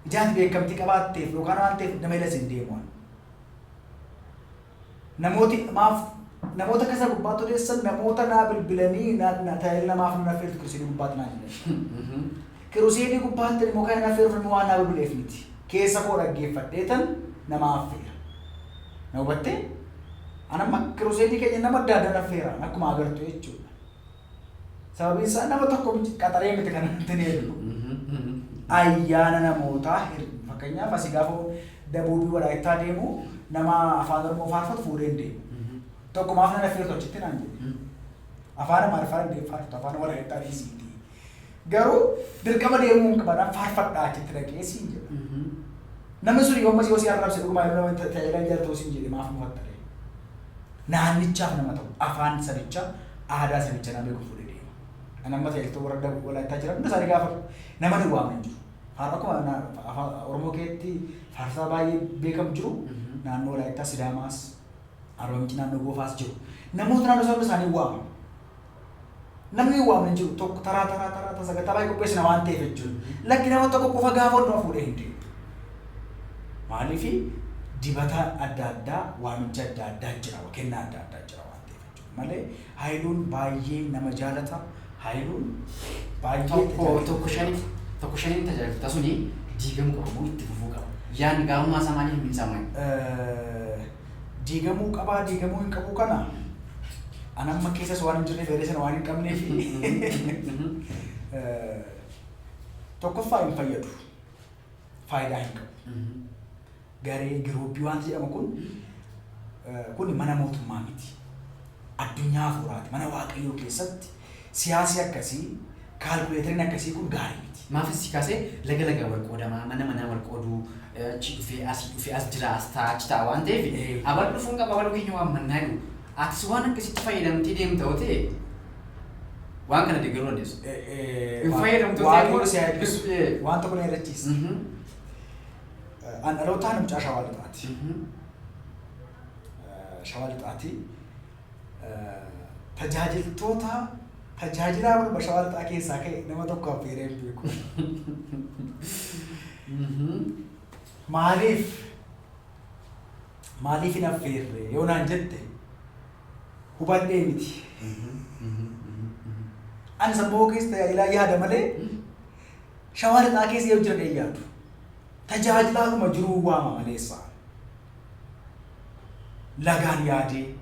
S2: Ijaati beekamtii qabaatteef yookaan waan ta'eef nama ila sin deemu. Namooti maaf namoota akka isa gubbaatti odeessan namoota naa bilbilanii naa naa tajaajila namaaf nan affeertu kirusiinii gubbaatti naa jedhan. Kirusiinii gubbaatti immoo kan hin affeeruuf namni waan naa bilbileef miti. Keessa koo dhaggeeffadhee tan nama affeera. Na hubattee? Anamma kirusiinii keenya nama adda addaa affeera akkuma agartu jechuudha. Sababiin isaa nama tokko miti qaxaree miti kan ittiin eegnu. Ayyaana namootaa hin- fakkeenyaaf asii gaafa dabuubii walaayittaa deemu nama afaan oromoo faarfatu fuudhee hin deemu. Tokko maaf nana fiirtu achitti naan jedhe. Afaan amaariffaa danda'ee faarfatu afaan walaayittaa dhiisiiti. Garuu dirqama deemuu hin qaban faarfadhaa achitti dhaqee siin jedha. Namni sun yoommas yoo si arrabse dhugumaa yeroo nama tajaajilaa jaalatu siin jedhe maaf mufattare. naannichaaf nama ta'u, afaan sabichaa, aadaa sabicha nama beeku fuudhee deema. Ani amma ta'eltoo warra Dabuu Walaayittaa jiran hunda isaanii gaafadhu nama nu waamu hin jiru. Faaruu akkuma na- fa- afaan Oromoo keetti faarsaa baay'ee beekamu jiru. Mhm. Naannoo Walaayittaa Sidaamaas, Arba Minci naannoo Goofaas jiru. Namoota naannoo isaa hunda isaanii waama. Namni waame hin jiru tokko taraa taraa taraa tasa gatabaa qopheessina waan ta'eef jechuudha. Lakki nama tokko qofa gaafa hundumaa fuudhee hin deemu. Maaliif dibataan adda addaa waamicha adda addaa jira kennaa adda addaa jira waan ta'eef jechuudha. Malee haayiluun baay'ee nama jaalata haayiluun baay'ee tokko tajaajila tokko nama shaniif
S1: tokko shaniif tajaajilta suni diigamu qabu itti fufuu qaba. Yaan gaarummaa isaa maaliif hin saamani? Eh, diigamuu
S2: qabaa diigamuu hin qabuu kana an amma keessas waan hin jirreef yaada sana waan hin qabnee fi eh, tokkoffaa hin fayyadu faayidaa hin qabu garee giruuppii wanti jedhamu kun eh, kun mana mootummaa miti addunyaa hafuuraati mana waaqayyoo keessatti Siyaasi akkasii, kaalkuleetariin akkasii kun gaarii miti. Maafis si kaase
S1: laga lagaan wal qoodamaa, mana manaan wal qooduu, achii dhufee asii dhufee as jira as taa'a achi taa'a waan ta'eef Ee. abalu dhufuun qaba abaluu keenya waammannaa jedhu. Atis waan akkasitti fayyadamtee deemta yoo ta'e waan kana deeggaruu dandeessa. Eh, eh, Hin Waa- fayyadamtu Waaqayyo ta'e- si haa eebbisu. Eh.
S2: Waan tokko na yaadachiisi. Mhm. Eh, An dhalootaan mucaa shawaa lixaati. Mhm. Eh, Shawaa lixaati. tajaajiltoota tajaajilaa marba shawaa lixaa keessaa ka'e nama tokko affeeree hin beeku. Maaliif? Maaliif hin affeerre yoo naan jette hubadhee miti. Ani sammuu keessa tajaajilaa yaada malee shawaa lixaa keessa yoo jiran hin yaadu. Tajaajilaadhuma jiruu waama maleessa. lagaan yaadee,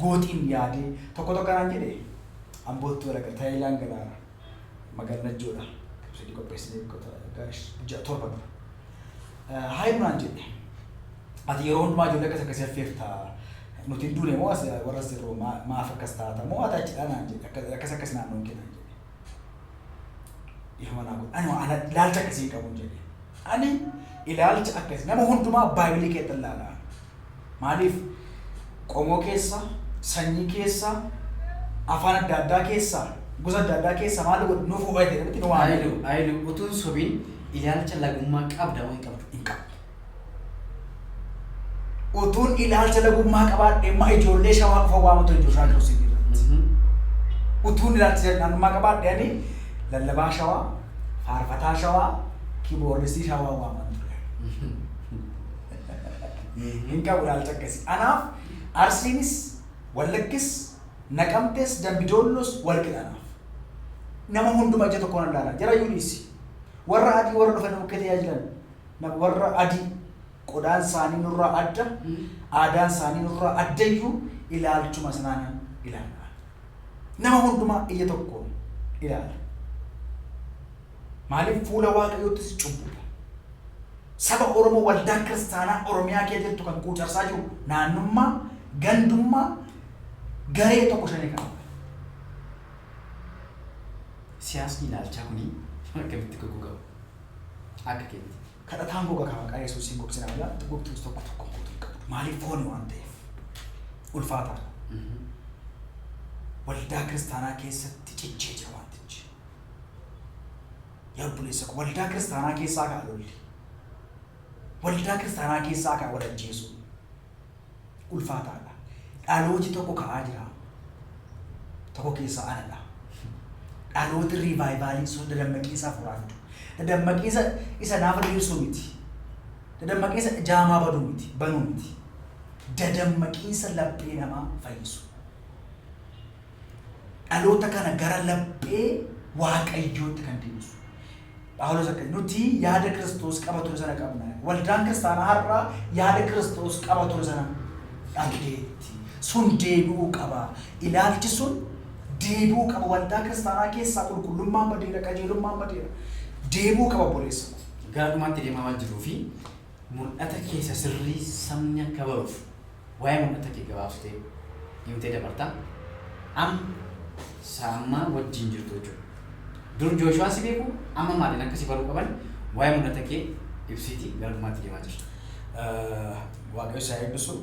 S2: gooxiin yaadee tokko tokko anaan jedhe Amboottu walaga Taayilaan galaara magaal Najjoodha ibsadii qopheessinee biqota gaash ja'a torba dura. Haayilu naan jedhe ati yeroo hundumaa ijoollee akkas akkasii affeerta nuti hin duune moo as warra sirroo maa- maaf akkas taata moo ati achidha naan jedhe akkas akkas akkas naannoon kee naan jedhe. Dhiifama naa godha. Ani ana ilaalcha akkasii hin qabu jedhe. Ani ilaalcha akkasii nama hundumaa baay'inii keetti ilaalaa. Maaliif qomoo keessa, sanyii keessa, afaan adda addaa keessa, gosa adda addaa keessa maal godhu nuuf ho'aa jedhe miti nu waamee Ayilu, Ayilu, utuun sobiin
S1: ilaalcha lagummaa qabda
S2: moo hin
S1: qabdu? hin qabu. Utuun
S2: ilaalcha lagummaa qabaadhee ma ijoollee shawaa qofa waamu ture Jooshaa Joosef irratti. Utuun ilaalcha jalqaanummaa qabaadhee ani lallabaa shawaa, faarfataa shawaa, kiboorristii shawaa waaman ture. Hin qabu ilaalcha akkasii. Anaaf Arsiinis, Wallaggis, Naqamtes, Dambidoollos wal qixa anaaf. Nama hunduma ija tokkoon ilaala. Jara yuuniisi. Warra adii warra dhufanii bukkee tajaajilan. Na warra adii, qodaan isaanii nurraa adda, aadaan isaanii nurraa adda iyyuu ilaalchuma sanaanan ilaalla. Nama hundumaa ija tokkoon ilaalla. Maaliif fuula Waaqayyoottis cubbuudha. Saba Oromoo waldaa kiristaanaa Oromiyaa kee jirtu kan quucarsaa jiru naannummaa, gandummaa, garee tokko shanee kan
S1: Siyaasni ilaalchaa kuni akkamitti goggogama? Akka keeti. Kadhataan koo kakaa maqaa
S2: yesuusiin gogsinaa jedha wanti gogtuus tokko tokko guutuu hin qabdu maaliif fooni waan ta'eef ulfaataadha waldaa kiristaanaa keessatti cichee jira wantichi yaa obboleessa koo waldaa kiristaanaa keessaa kaa lolli waldaa kiristaanaa keessaa kaa wal ajjeesuu ulfaataadha. Dhalooti tokko ka'aa jira. Tokko keessaa anadha. Dhalooti riivaayivaaliin sun dadammaqiinsa hafuuraa fidu. Dadammaqiinsa isa naafa diriirsuu miti. Dadammaqiinsa jaamaa baduu miti, banuu miti. Dadammaqiinsa laphee namaa fayyisu. Dhaloota kana gara laphee waaqayyootti kan deebisu. Phaawulos akka, Nuti yaada Kiristoos qaba ture sana qabna. Waldaan kiristaanaa har'a yaada Kiristoos qaba ture sana dhabdeetti. Sun deebi'uu qaba. Ilaalchi sun deebi'uu qaba. Waldaa kiristaanaa keessaa qulqullummaan badeera, qajeelummaan badeera. Deebi'uu qaba obboleessa ko. Gara dhumaatti deemaa
S1: waan jirruufi. Mul'ata kee isa sirrii sabni akka baruuf waa'ee mul'ata kee gabaabsitee himtee dabarta. Amma isa ammaa wajjin jirtu jechuudha. Dur Jooshuwaa si beeku, amma maaliin akka si baruu qaban waa'ee mul'ata kee ibsiiti gara dhumaatti deemaa jirra.
S2: Waaqayyo si haa eebbisu.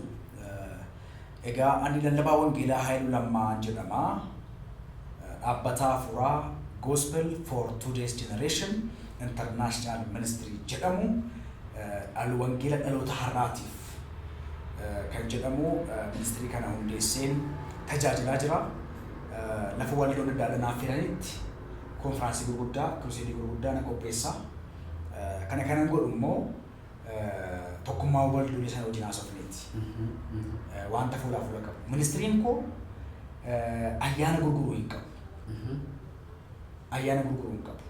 S2: Egaa ani lallabaa wangeelaa Haayiluu Lammaa jedhama. Dhaabbata hafuuraa Gospel for Today's Generation International Ministry jedhamu dhal wangeela dhaloota har'aatiif kan jedhamu ministirii kana hundeesseen tajaajilaa jira. Lafa waldoon adda addaa naaf firanitti konfiraansii gurguddaa, kiruseedii gurguddaa nan qopheessa. Kana kanan godhu immoo tokkummaa wal durii sana wajjin haasofneeti. Wanta fuulaa fuula qabu. Ministiriin koo ayyaana gurguruu hin qabu. Ayyaana gurguruu hin qabu.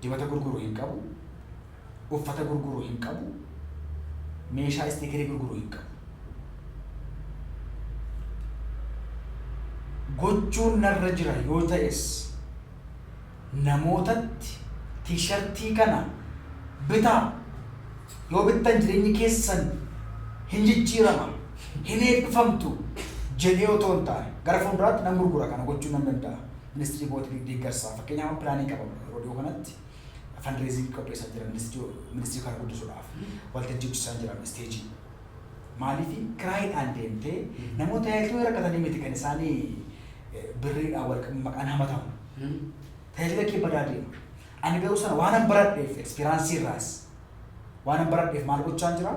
S2: Dibata gurguruu hin qabu. Uffata gurguruu hin qabu. Meeshaa istiikirii gurguruu hin qabu. Gochuun narra jira yoo ta'es namootatti T-shartii kana bitaa yoo bittan jireenyi keessan hin jijjiirama, hin eebbifamtu jedhee otoo hin taane gara fuulduraatti nan gurgura kana gochuun nan danda'a ministrii bootiif deeggarsa fakkeenyaaf amma pilaanii qaba yeroo dhiyoo kanatti fundraising qopheessaa jira ministrii kana guddisuudhaaf waltajjii hojjechaa jira isteejii Maaliif kiraayiidhaan deemtee namoota hedduu rakkatanii miti kan isaanii eh, birriidhaan wal qabu maqaan hamatamu. Hmm. Tajaajila kee badaa deema. Ani garuu sana waanan baradheef ekspiraansii irraas waanan baradheef maal gochaan jira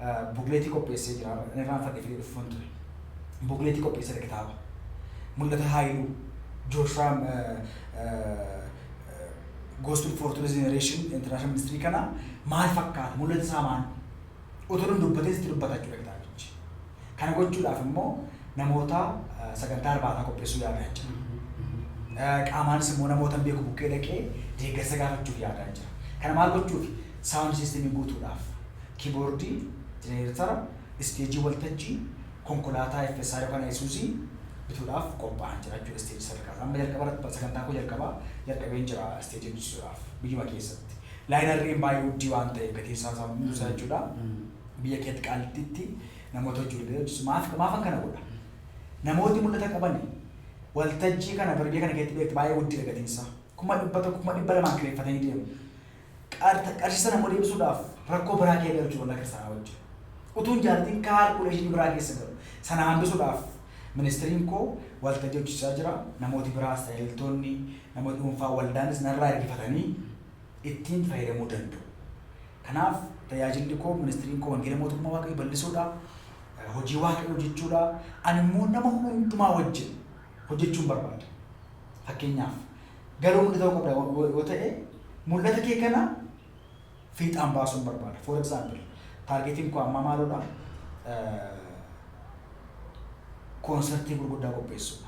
S2: Eh, bukleetii qopheessee jira inni irraan fadhee fidee dhufuun ture. Bukleetii qopheessee kitaaba. Mul'ata Haayiluu, Jooshuwaa eh, eh, Gospel for Today's Generation International Ministry kana maal fakkaata? Mul'ata isaa maal? otoo nun dubbatin sitti dubbata jechuudha kitaabichi. Kana gochuudhaaf immoo namoota sagantaa irbaataa qopheessuu yaadaan jira. Qaamaanis immoo namoota hin beeku bukkee dhaqee deeggarsa gaafachuuf yaadaan jira. Kana maal gochuuf? Saawundi siistemii guutuudhaaf. Kiiboordii, jeneeretara, isteejii waltajjii, konkolaataa FSI yookaan Ayisuuzii bituudhaaf qophaa'an jira jechuudha isteejii sadarkaa isaa. Amma jalqaba irratti sagantaa koo jalqabaa jalqabeen jira isteejii bichisuudhaaf biyyuma keessatti. Laayinarriin baay'ee uddii waan ta'eef gatiin isaa isaa hunduu isaa jechuudha. Biyya keetti qaalittiitti namoota hojii walgahii hojjechiisu maaf maafan kana godha? Namooti mul'ata qabani waltajjii kana bari biyya kana keetti beektu baay'ee uddiidha gatiin isaa. Kuma dhibba tokko kuma dhibba lamaan kireeffatanii deemu. Qarta- Qarshii sana immoo deebisuudhaaf rakkoo biraa kee galu jechuudha waldaa kiristaanaa wajjin. Utuun jaalatiin kaalkuleeshinii biraa keessa galu. Sana hambisuudhaaf ministiriin koo waltajjii hojjechaa jira. Namooti biraas tajaajiltoonni namooti dhuunfaa waldaanis narraa ergifatanii ittiin fayyadamuu danda'u. Kanaaf tajaajilli koo, ministiriin koo wangeela mootummaa Waaqayyoo bal'isuudha, hojii Waaqayyoo hojjechuudha. Ani immoo nama hundumaa wajjin hojjechuun barbaada. Fakkeenyaaf garuu hundi ta'uu qabda yoo yoo ta'e mul'ata kee kana fiixaan baasuun barbaada. For example, taargeetiin koo ammaa maaludha? Koonsartii gurguddaa qopheessuudha.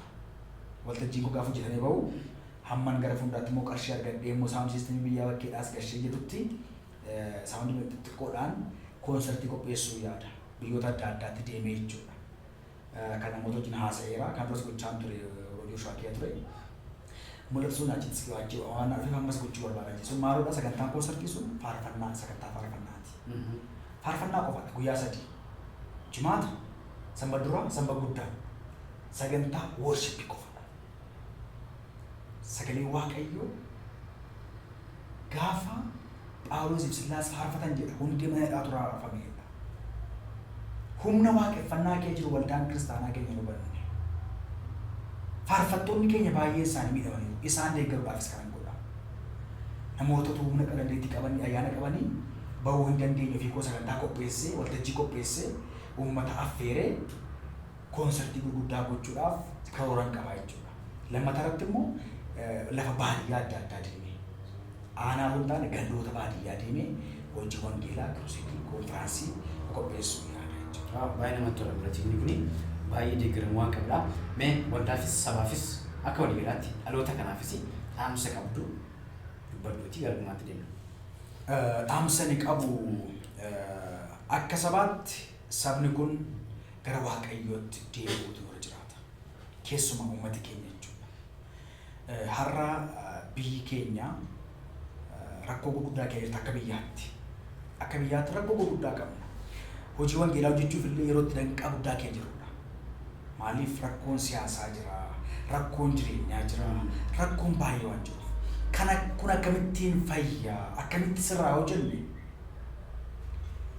S2: Waltajjiin koo gaafa hojjetamee bahu Hamman gara fuulduraatti immoo qarshii argadhee immoo saawundi siistemii biyyaa bakkeedhaas gashee jedhutti saawundi xixiqqoodhaan koonsartii qopheessuu yaada. Biyyoota adda addaatti deemee jechuudha. Kan namoota wajjin haasa'eera. Kan duras gochaan ture yeroo Jooshuwaa kiyya ture. Mul'ata sun achitti siqee achi waan na dhufeef ammas gochuu barbaada jechuudha. Sun maaludha sagantaan koonsartii sun faarfannaa sagantaa faarfannaati. Faarfannaa qofaadha guyyaa sadii. Jimaata, sanbata duraa, sanbata guddaa. Sagantaa worshippii qofa. Sagalee Waaqayyoo gaafa Phaawulosiif Sillaas faarfatan jedha hundi mana hidhaa turaa raafamee jedha. Humna waaqeffannaa kee jiru waldaan kiristaanaa keenya hin hubanne. Faarfattoonni keenya baay'een isaanii miidhamaniiru. Isaan deeggaruudhaafis kanan godha. Namootatu humna qadandeetti qabanii ayyaana qabanii bahuu hin dandeenye ofii koo sagantaa qopheessee waltajjii qopheessee uummata affeeree Koonsartii gurguddaa gochuudhaaf karooran qaba jechuudha. Lammataa irratti immoo lafa baadiyyaa adda addaa deemee aanaa osoo hin taane gandoota baadiyyaa deemee hojii wangeelaa, kiruseedii, konfiraansii qopheessuu yaada jechuudha. Waaw baay'ee namatti tola pirojekni
S1: kuni baay'ee deeggaramuu waan qabudha. Mee waldaafis sabaafis akka waliigalaatti dhaloota kanaafis dhaamsa qabdu dubbadhuutii gara dhumaatti deemna. Dhaamsa
S2: ani qabu akka sabaatti Sabni kun gara Waaqayyootti deebi'uutu irra jiraata. Keessumaa uummati keenya jechuudha. Har'a biyyi keenya rakkoo gurguddaa keessa jirti akka biyyaatti. Akka biyyaatti rakkoo gurguddaa qabna. Hojii wangeelaa hojjechuuf illee yeroo itti danqaa guddaa keessa jirudha. Maaliif rakkoon siyaasaa jira, rakkoon jireenyaa jira, rakkoon baay'ee waan jiruuf. Kana kun akkamittiin fayya, akkamitti sirraa hojjenne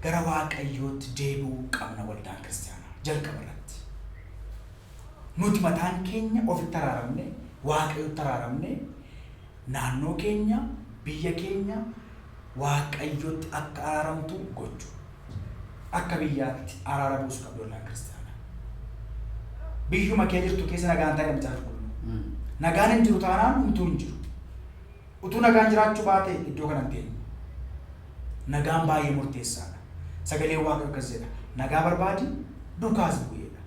S2: gara Waaqayyootti deebi'uu qabna waldaan kiristiyaanaa jalqaba irratti. Nuti mataan keenya ofitti araaramne, Waaqayyotti araaramne, naannoo keenya, biyya keenya Waaqayyotti akka araaramtu gochu. Akka biyyaatti araara buusu qabdi waldaan kiristiyaanaa. Biyyuma kee jirtu keessa nagaan taa'e macaafa qulqulluu. Nagaan hin jiru taanaan hunduu hin jiru. Utuu nagaan jiraachuu baatee iddoo kana hin teenyu. Nagaan baay'ee murteessaa dha. Sagaleen Waaqayyoo akkas jedha, nagaa barbaadi, dukaas bu'i jedha.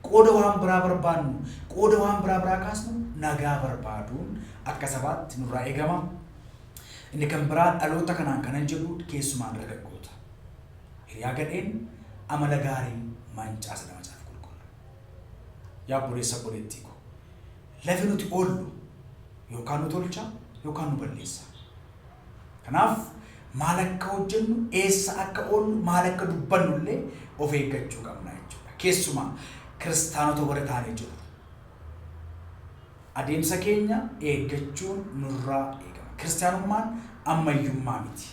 S2: Qooda waan biraa barbaannu, qooda waan biraa biraa kaasnu nagaa barbaaduun akka sabaatti nurraa eegama. Inni kan biraa dhaloota kanaan kanan jedhu keessumaa dargaggoota. Hiriyaa gadheen amala gaariin mancaasa dha macaafa qulqulluu. Yaa obboleessa obboleettii koo. Lafi nuti oollu yookaan nu tolcha yookaan nu balleessa. Kanaaf maal akka hojjennu, eessa akka oollu, maal akka dubbannu illee of eeggachuu qabna jechuudha. Keessumaa kiristaanota warri taanee jirru. Adeemsa keenya eeggachuun nurraa eegama. Kiristaanummaan ammayyummaa miti.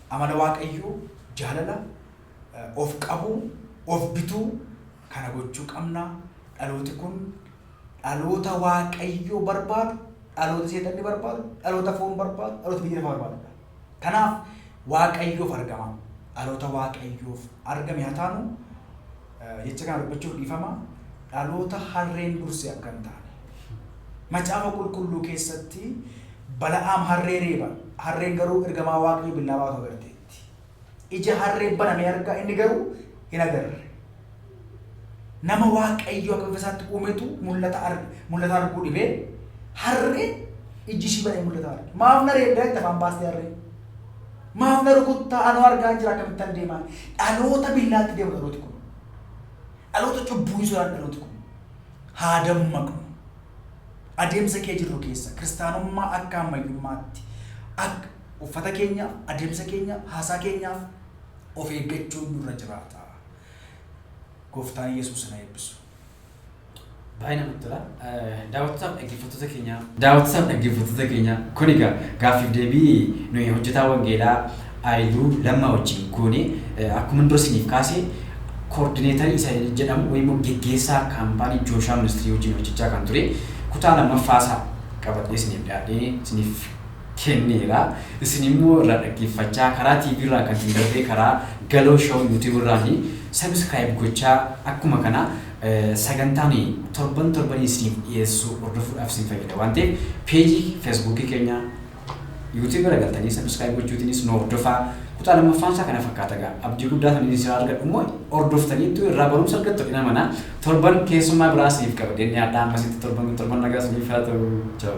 S2: Amala Waaqayyoo jaalala, of qabuu, of bituu, Kana gochuu qabna. Dhalooti kun dhaloota Waaqayyo barbaadu, dhaloota seexanni barbaadu, dhaloota foon barbaadu, dhaloota biyya lafaa barbaadudha. Kanaaf Waaqayyoof argamaa. Dhaloota Waaqayyoof argame haa taanu. Jecha kana dubbachuuf dhiifama. Dhaloota harreen durse akka hin taane. Macaafa qulqulluu keessatti Bala'aam harree reeba. Harreen garuu ergamaa Waaqayyo billaa baatu agarteetti. Ija harree banamee argaa inni garuu hin agarre. Nama waaqayyo akka bifa isaatti uumetu mul'ata arge. Mul'ata arguu dhibee harree ijji ishii banee mul'ata arge. Maaf na reebdaa itti afaan baastee harree. Maaf na rukuttaa anoo argaa hin jira akkamittan deemaan. Dhaloota billaatti deemu dhalooti kun. Dhaloota cubbuu hin sodaanne dhalooti kun. Haa dammaqnu. Adeemsa kee jirru keessa kiristaanummaa akka ammayyummaatti akka Uffata keenyaaf, adeemsa keenyaaf, haasaa keenyaaf of eeggachuun nurra jiraata. Gooftaan Yesuus na eebbisu.
S1: Baay'ee namatti tola. Daawwattootaaf dhaggeeffattoota keenya. Daawwattootaaf dhaggeeffattoota keenya kun egaa gaaffiif deebii nuyi hojjetaa wangeelaa Aayiluu Lammaa wajjin goone akkuma dura isiniif kaase koordineetarii isa jedhamu wayii immoo geggeessaa kaampaanii Jooshaa Ministirii wajjin hojjechaa kan ture kutaa lammaffaa isaa qabadhee isiniif dhiyaadhee isiniif kenneera. Isin immoo irraa dhaggeeffachaa karaa TV irraa kan isin darbee karaa Galoo Show YouTube irraani subscribe gochaa akkuma kana sagantaa nuyi torban torbanii isiniif dhiyeessu hordofuudhaaf isin fayyada waan ta'eef page Facebook keenya YouTube irra galtanii subscribe gochuutiinis nu hordofaa kutaa lammaffaan isaa kana fakkaata gaa abdii guddaa kan inni siraa argadhu immoo hordoftaniittu irraa barumsa argattu dhinamana Torban keessummaa biraa isiniif qabadheen dhiyaadha ammasitti torban kun torban nagaa isiniif haa ta'u. Ciao.